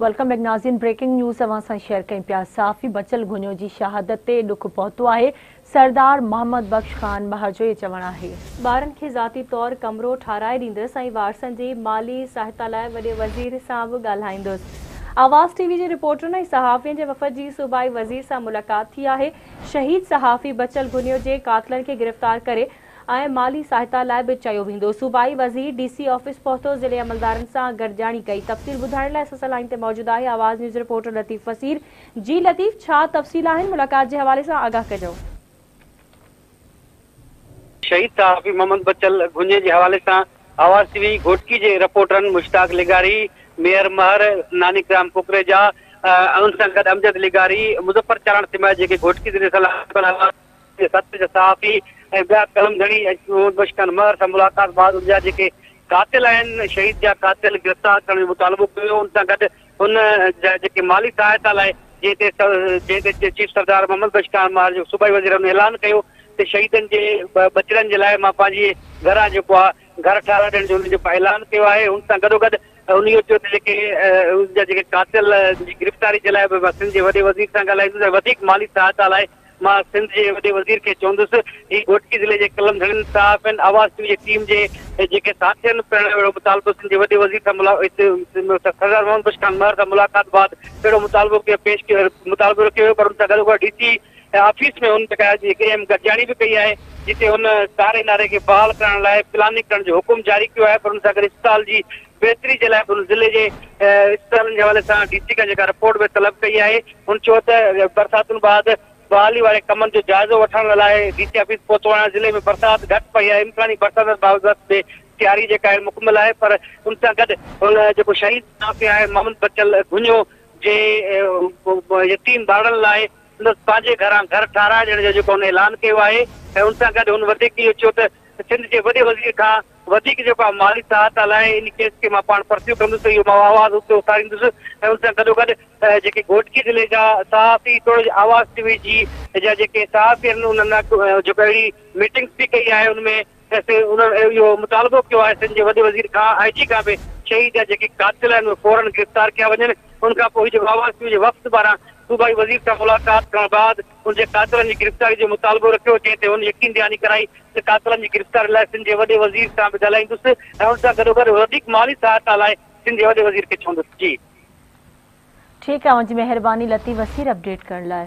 Welcome back ناظرين breaking news اوهان سان شيئر ڪيون پيا صحافي بچل گهنيو جي شهادت تي ڏک پهتو آهي سردار محمد بخش خان مهر جو اهي چوڻ آهي. ٻارن کي ذاتي طور ڪمرو ٺاهرائي ڏيندس ۽ وارثن جي مالي سهائتا لاء وڏي وزير سان به ڳالهائيندس آواز ٽي وي جي رپورٽرن ۽ صحافين جي وفد جي صوبائي وزير سان ملاقات ٿي آهي شهيد صحافي بچل گهنيو جي قاتلن کي گرفتار ڪري ۽ مالي سهائتا لاء به چيو ويندو. صوبائي وزير ڊي سي آفيس پهتو، ضلعي عملدارن سان گڏجاڻي ڪئي، تفصيل ٻڌائڻ لاء سسئي لائين تي موجود آهي آواز نيوز رپورٽر لطيف فصيل، جي لطيف ڇا تفصيل آهن ملاقات جي حوالي سان آگاهه ڪجو. شهيد صحافي محمد بچل گهني جي حوالي سان آواز ٽي وي گهوٽڪي جي رپورٽرن مشتاق لغاري، ميهر مهر، نانيڪ رام ڪوڪريجا ۽ ان سان گڏ امجد لغاري، مظفر چالاڻ سميت جيڪي گهوٽڪي ضلعي سان لاڳاپيل حالات جي سرپرست جا صحافي ۽ ٻيا قلم ڌڻي احمد بخش خان مهر سان ملاقات بعد ان جا جيڪي قاتل آهن شهيد جا قاتل گرفتار ڪرڻ جو مطالبو ڪيو ان سان گڏ ان جا جيڪي مالي سهائتا لاء جنهن تي جنهن تي چيف سردار محمد بخش خان مهر جو صوبائي وزير ان اعلان ڪيو ته شهيدن جي ٻچڙن جي لاء مان پنهنجي گهران جيڪو آهي گهر ٺاراء ڏيڻ جو ان جو اعلان ڪيو آهي ان سان گڏوگڏ ان اهو چيو ته جيڪي ان جا جيڪي قاتل جي گرفتاري جي لاء به سنڌ جي وڏي وزير سان ڳالهائيندس ۽ وڌيڪ مالي سهائتا لاء مان سنڌ جي وڏي وزير کي چوندس هي گهوٽڪي ضلعي جي قلم ڌڻين صحافين آواز ٽي وي جي ٽيم جي جيڪي ساٿين پڻ اهڙو مطالبو سنڌ جي وڏي وزير سان سردار محمد بخش خان مهر سان ملاقات بعد اهڙو مطالبو ڪيو پيش ڪيو مطالبو رکيو ويو پر ان سان گڏوگڏ ڊي سي آفيس ۾ هن جيڪا هڪڙي اهم گڏجاڻي به ڪئي آهي جتي هن ڪاري ناري کي بحال ڪرائڻ لاء پلاننگ ڪرڻ جو حڪم جاري ڪيو آهي پر ان سان گڏ اسپتال جي بهتري جي لاء ان ضلعي جي اسپتالن جي حوالي سان ڊي سي کان جيڪا رپورٽ به طلب ڪئي آهي هن چيو ته برساتن بعد بحالي واري ڪمن جو جائزو وٺڻ لاء ڊي سي آفيس پهتو آهيان ضلعي ۾ برسات گهٽ پئي آهي امڪاني برساتن بابت به تياري جيڪا آهي مڪمل آهي پر ان سان گڏ هن جيڪو شهيد صحافي آهي محمد بچل گهنيو جي يتيم ٻارڙن لاء سندس پنهنجي گهران گهر ٺاهرائي ڏيڻ جو جيڪو هن اعلان ڪيو آهي ۽ ان سان گڏ هن وڌيڪ اهو چيو ته سنڌ جي وڏي وزير کان وڌيڪ جيڪو آء مالي سهائتا لاء ان ڪيس کي مان پاڻ پرسيو ڪندس ته اهو مان آواز اٿي اٿاريندس ۽ ان سان گڏوگڏ جيڪي گهوٽڪي ضلعي جا صحافي توڙي جو آواز ٽي وي جي جا جيڪي صحافي آهن انهن جيڪو اهڙي ميٽنگس به ڪئي آهي ان ۾ اسين انهن اهو مطالبو ڪيو آهي سنڌ جي وڏي وزير کان آء جي کان به شهيد جا جيڪي قاتل آهن اهي فورن گرفتار ڪيا وڃن ان کان پوء هي جيڪو آواز ٽي وي جي وفد پاران صوبائي وزير سان ملاقات ڪرڻ بعد ان جي قاتلن جي گرفتاري جو مطالبو رکيو، جنهن تي هن يقين دهاني ڪرائي ته قاتلن جي گرفتاري لاء سنڌ جي وڏي وزير سان به ڳالهائيندس ۽ ان سان گڏوگڏ وڌيڪ مالي سهائتا لاء سنڌ جي وڏي وزير کي چوندس. جي. ٺيڪ آ اوهان جي مهرباني لطيف وسير اپڊيٽ ڪرڻ لاء.